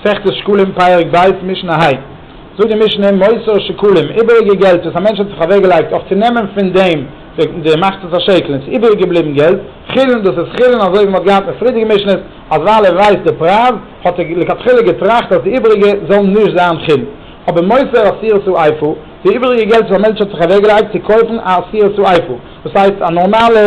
מסכת שקלים פרק ב' משנה ה זאגט די משנה מוסר שקלים איבעריגע געלט וואס א מענטש האט זיך אוועק געלייגט אויף צו נעמען פון דעם די מחצית השקל און ס'איז איבעריג געבליבן געלט חילין דאס איז חילין אזוי ווי מ'האט געהאט אין פריערדיגע משנות אז ווייל ער ווייסט די פרייז האט ער לכתחילה געטראכט אז די איבעריגע זאל נישט זיין חילין אבער מוסר אסירת סעיפו די איבעריגע געלט וואס א מענטש האט זיך אוועק געלייגט צו קויפן א אסירת סעיפו דאס הייסט א נארמאלע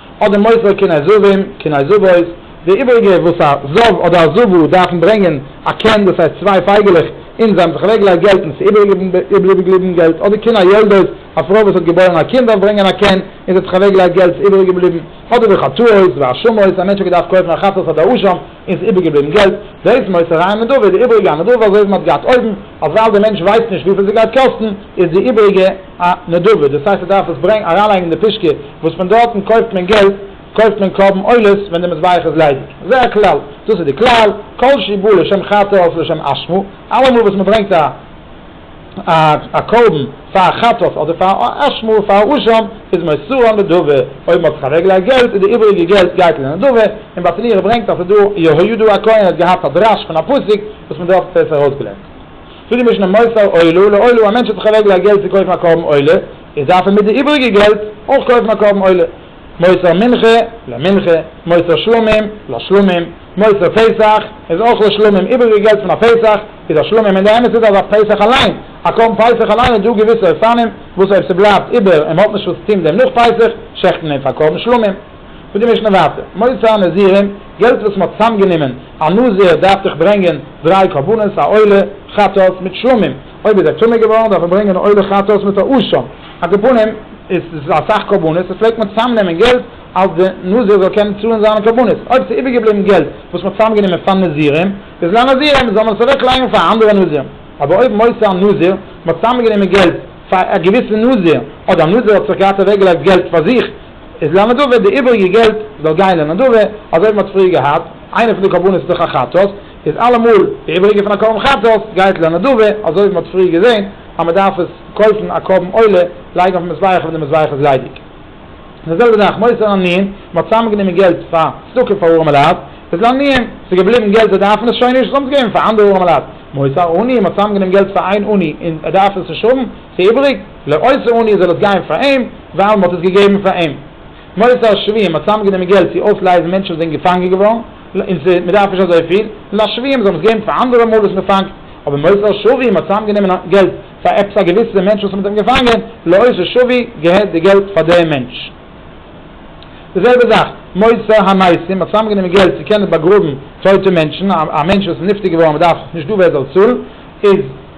אדער מוסר קני זבים, קני זבות, די איבריגע וואס א זב אדער א זבו דארפן ברענגען א קן דאס הייסט צוויי פייגעלעך און זיי האבן זיך אוועקגעלייגט געלט און עס איז איבערגעבליבן געלט אדער קני יולדות א פרוי וואס האט געבוירן א קינד דארף ברענגען א קן און זי האט זיך אוועקגעלייגט געלט עס איז איבערגעבליבן אדער וחטאות והאשמות א מענטש האט געדארפט קויפן א חטאת אדער אשם און ס'איז איבערגעבליבן געלט, דאס מוסר אריין אין נדבה, די איבריגע א נדבה, אזוי ווי מ'האט געהאט אויבן, אז ווייל דער מענטש ווייסט נישט וויפיל ס'גייט קאסטן, איז די איבריגע א נדבה, דאס הייסט מ'דארף עס ברענג אריינלייגן אין די פישקע, וואס פון דארטן קויפט מען געלט, קויפט מען קרבן עולות ווען די מזבח איז ליידיג. זה הכלל, דאס איז די כלל, כל שיבא לשם חטא אויף לשם אשמה, אלעמאל וואס מ'ברענגט א. א קרבן פאר א חטאת אדער פאר א אשמור פאר א רשם איז מסור א נדבה, אויב מ'האט זיך אוועקגעלייגט געלט איז די איבעריגע געלט גייט אין די נדבה, און בעטעניו ברענגט אז ס'דא יהוידע הכהן האט געהאט א דרש פון א פסוק וואס מען דארף האט עס ארויסגעלערנט צו די משנה מוסר עולה לעולה א מענטש האט זיך אוועקגעלייגט געלט צו קויפן א קרבן עולה איז דארף ער מיט די איבעריגע געלט אויך קויפן א קרבן עולה. מוסר מנחה, למנחה, מוסר שלמים, לשלמים, מוסר פסח, איז אויך לשלמים, איבריגע געלט פון א פסח, איז לשלמים, און די אמת איז אז אויף פסח אליין, א קרבן פסח אליין איז דא געוויסע אופנים, וואס אויב ס'בלייבט איבער און מ'האט נישט וואס צו טוהן דעם נאך פסח, שעכט מען אים פאר קרבן שלמים. זאגט די משנה ווייטער, מוסר הנזירים, געלט וואס מ'האט צוזאמגענומען, א נזיר דארף דיך ברענגען דריי קרבנות, א עולה, חטאת, מיט שלמים. אויב איז ער טמא געווארן דארף ער ברענגען א עולה חטאת מיט א אשה, על כל פנים איז עס אסאך קרבנות, עס פלעגט מען צוזאם נעמען געלט אז די נזיר זאל קענען צאלן זיינע קרבנות, אויב עס איז איבערגעבליבן געלט וואס מען האט צוזאם גענומען פאר נזירים איז לנזירים זאל מען עס אוועק לייגן פאר אנדערע נזירים, אבער אויב מוסר הנזיר מען האט צוזאם גענומען געלט פאר א געוויסע נזיר אדער נזיר האט זיך געהאט אוועק געלייגט געלט פאר זיך איז לנדבה די איבעריגע געלט זאל גיין לנדבה, אזוי ווי מען האט פריער געהאט איינע פון די קרבנות איז דאך א חטאת. איז אלעמאל די איבעריגע פון א קרבן חצות גייט לנדבה, אזוי ווי מען האט פריער געזען אז מען דארף עס קויפן א קרבן עולה לייגן אויפן מזבח ווען די מזבח איז ליידיג, און די זעלבע זאך מוסר א ניען, מען האט צוזאמענגענומען געלט פאר צדקה פאר ארעמע לייט, איז לה ניען, ס'איז געבליבן געלט זיי דארפן עס שוין נישט, זיי האבן עס געגעבן פאר אנדערע ארעמע לייט, מוסר עני, מען האט צוזאמענגענומען געלט פאר איין עני און ער דארף עס נישט האבן, ס'איז איבעריג, לעושר עני זאל עס גיין פאר אים, ווייל מען האט עס געגעבן פאר אים. מוסר שבויים, מען האט צוזאמענגענומען געלט צו אויסלייזן מענטשן וואס זענען געפאנגען געווארן, און ס'איז, מ'דארף נישט אזויפיל. און א שווים זאל מען עס געבן פאר אנדערע מאל וואס מ'פאנגט. אבער מוסר השבים האט צוזאמגענומען געלט פאר עפעס א געוויסע מענטש וואס מ'האט אים געפאנגען, לאות השבי געהערט די געלט פאר דעם מענטש. די זעלבע זאך, מוסר המתים האט צוזאמגענומען געלט צו קענען באגראבן טויטע מענטשן, א מענטש וואס איז נפטר געווארן און מ'דארף נישט דא ווער עס זאל צאלן, איז.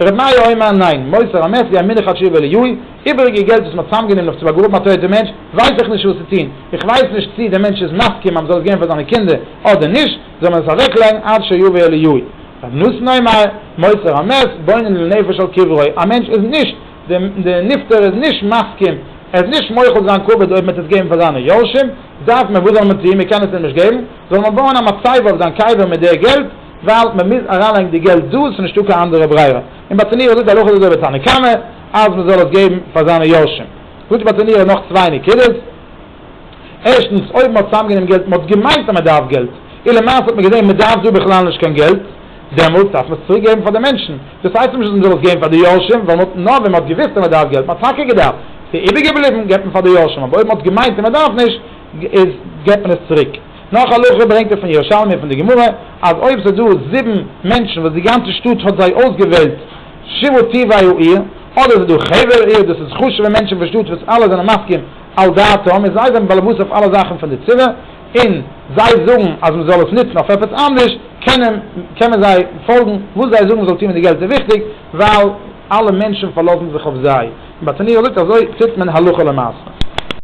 ר' מאיר אוימאן, ניין, מוסר אמת ווי א מנחת שיעור וועליו, איבעריגע געלט וואס מ'האט צוזאמגענומען נאך צו באגראבן א טויטע מענטש, ווייס איך נישט וואס צו טון, איך ווייס נישט צי דער מענטש איז מסכים אז מ'זאל עס געבן פאר זיינע קינדער אדער נישט, זאל מען עס אוועקלייגן עד שיבוא אליהו. ר' נתן אוימאן, מוסר אמת, בונן לנפש על קברו, א מענטש איז נישט, דער נפטר איז נישט מסכים, ער איז נישט מוחל זיין כבוד אויב מ'וועט עס געבן פאר זיינע יורשים, דארף מען, וואס זאל מען טון, מ'קען עס אים נישט געבן, זאל מען בויען א מצבה אויף זיין קבר מיט דער געלט, ווייל מען מוז אריינלייגן די געלט דא, עס איז נישטא קיין אנדערע ברירה, און ביי צענירער זאגט די הלכה אזוי ביי תנא קמא אז מען זאל עס געבן פאר זיינע יורשים, זאגט ביי צענירער נאך צוויי נקודות, ערשטנס אויב מען האט צוזאמגענומען געלט, מען האט געמיינט אז מען דארף געלט, און למעשה האט מען געזען מען דארף דא בכלל נישט קיין געלט, דעמאלטס דארף מען עס צוריק געבן פאר די מענטשן, דאס הייסט אבער נישט אז מען זאל עס געבן פאר די יורשים, ווייל מען האט נאר ווען מען האט געוויסט אז מען דארף געלט, מען האט טאקע געדארפט, עס איז איבערגעבליבן, געבט מען פאר די יורשים, אבער אויב מען האט געמיינט אז מען דארף נישט, איז געבט מען עס צוריק. נאך הלכה ברענגט ער פון ירושלמי און פון די גמרא, אז אויב ס'איז דא זיבן מענטשן וואס די גאנצע שטאט האט זיי אויסגעוועלט שבעה טבעי העיר, אדער ס'איז דא חבר עיר, דאס איז חשוב'ע מענטשן פון שטאט וואס אלע זענען מסכים על דעתם און זיי זענען באלעבאס אויף אלע זאכן פון די צבא, און זיי זאגן אז מ'זאל עס נוצן אויף עפעס אנדערש, קען מען זיי פאלגן, וואס זיי זאגן מ'זאל טון מיט די געלט איז וויכטיג, ווייל אלע מענטשן פארלאזן זיך אויף זיי, און ביי תניאור זאגט אזוי טוט מען הלכה למעשה.